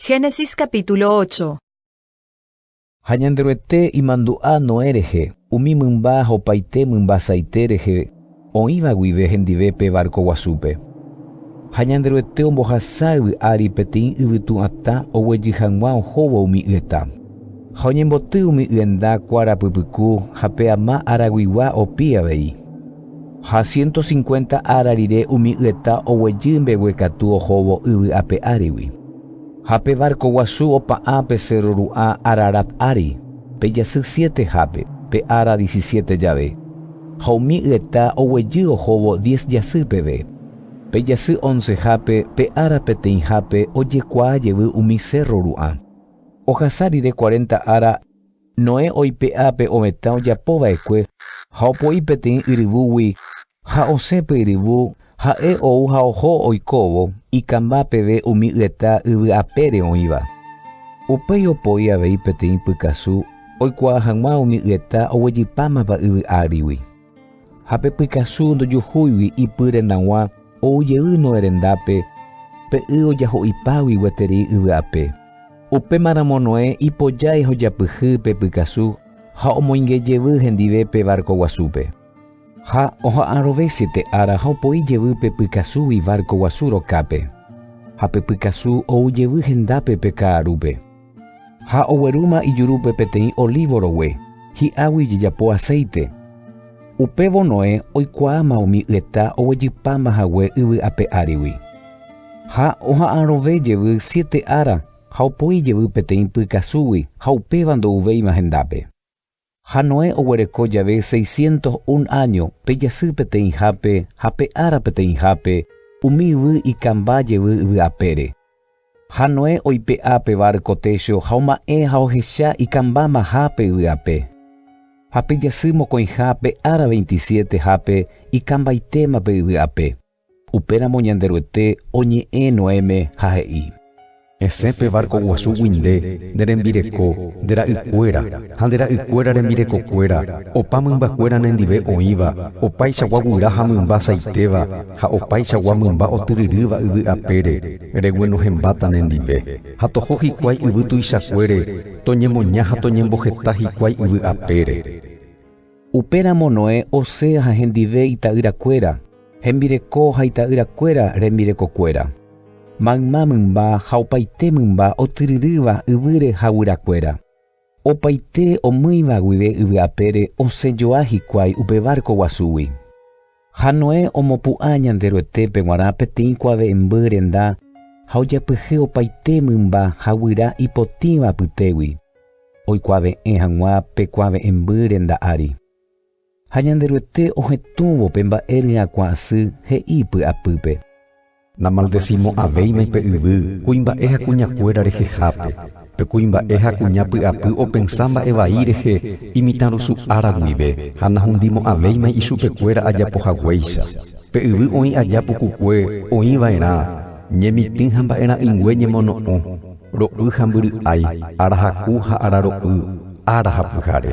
Génesis capítulo 8 Ha Ñanderuete imandu'a Noé rehe, umi mymba ha opaite mymba saite rehe oĩva guive hendive pe várko guasúpe. Ha Ñanderuete ombohasa yvy ári peteĩ yvytu atã oguejy hag̃ua ohóvo umi yeta. Ha oñemboty umi yenda kuára pypyku ha pe ama araguigua opi avei. Ha siénto sinkuénta ára rire umi yeta oguejy mbegue katu ohóvo yvy ape árigui. Ha pe várko guasu opa'ã pe sérro ru'ã Ararat ári, pe jasy siétehápe, pe ára disisiéte jave. Ha umi yeta oguejy ohóvo diez jasy peve. Pe jasy oncehápe, pe ára peteĩhápe, ojekuaa jevy umi sérro ru'ã. Ohasa rire cuarenta ára. Noé oipe'a pe ovetã ojapo va'ekue ha opo'i peteĩ yryvúgui ha osẽ pe yryvu, ha'e ou ha oho oikóvo ikãmba peve umi yeta yvy apére oĩva. Upéi opoi avei peteĩ pykasu oikuaa hag̃ua umi yeta oguejypámapa yvy ágrigui. Ha pe pykasu ndojuhúigui ipy rendag̃ua ou jey Noé rendápe, pe y ojaho'ipágui gueteri yvy'ape. Upéma ramo Noé ipojái ha ojapyhy pe pykasu ha omoinge jevy hendive pe várko guasúpe. Ha oha'arõve siete ára ha opoi jevy pe pykasúgui várko guasu rokápe. Ha pe pykasu ou jevy hendápe pe ka'arúpe. Ha oguerúma ijurúpe peteĩ olívo rogue, hi'águi ijejapo aséite. Upévo Noé oikuaáma umi yeta oguejypáma hague yvy ape árigui. Ha oha'arõve jevy siete ára ha opoi jevy peteĩ py kasúgui ha upéva ndouvéima hendápe. Ha Noé oguereko jave seiscientos un áño, pe jasy peteĩhápe ha pe ára peteĩhápe, umi yvy ikãmba jevy yvy apére. Ha Noé oipe'a pe várko técho ha oma'ẽ ha ohecha ikãmba maha pe yvy ape. Ha pe jasy mokõiha pe ára veintisiete hápe ikãmbaitéma pe yvy ape. Upéramo Ñanderuete oñe'ẽ Noéme ha he'i, Esẽ pe várko guasúgui nde, ne rembireko, nde ra'ykuéra, ha nde ra'ykuéra rembirekokuéra, opa mymbakuéra nendive oĩva, opaichagua guyra ha mymba asaitéva, ha opaichagua mymba otyryrýva yvy apére, regue nohembáta nendive. Ha toho hikuái yvy tuichakuére, toñemoña ha toñemboheta hikuái yvy apére. Upéramo Noé osẽ ha hendive ita'yrakuéra, hembireko ha ita'yrakuéra rembirekokuéra, mayma mymba ha opaite mymba otyryrýva yvýre ha guyrakuéra. Opaite omýiva guive yvy apére osẽjoa hikuái upe várko guasúgui. Ha Noé omopu'ã Ñanderuetépe g̃uarã peteĩ kuave'ẽmby renda ha ojapyhy opaite mymba ha guyra ipotĩva apytégui, oikuave'ẽ hag̃ua pe kuave'ẽmby renda ári. Ha Ñanderuete ohetũvo pe mba'e ryakuã asy he'i py'apýpe. Namaldesimo'ãvéima pe yvy kuimba'e ha kuñakuéra rehehápe, pe kuimba'e ha kuña py'apy opensa mba'e vai rehe imitãrusu ára guive ha nahundimo'ãvéima ichupekuéra ajapo haguéicha. Pe yvy oĩ aja pukukue oĩ va'erã, ñemitỹ ha mba'erã'ỹingue ñemono'õ, ro'y ha mbyry'ái, arahaku ha araro'y, ára ha pyhare.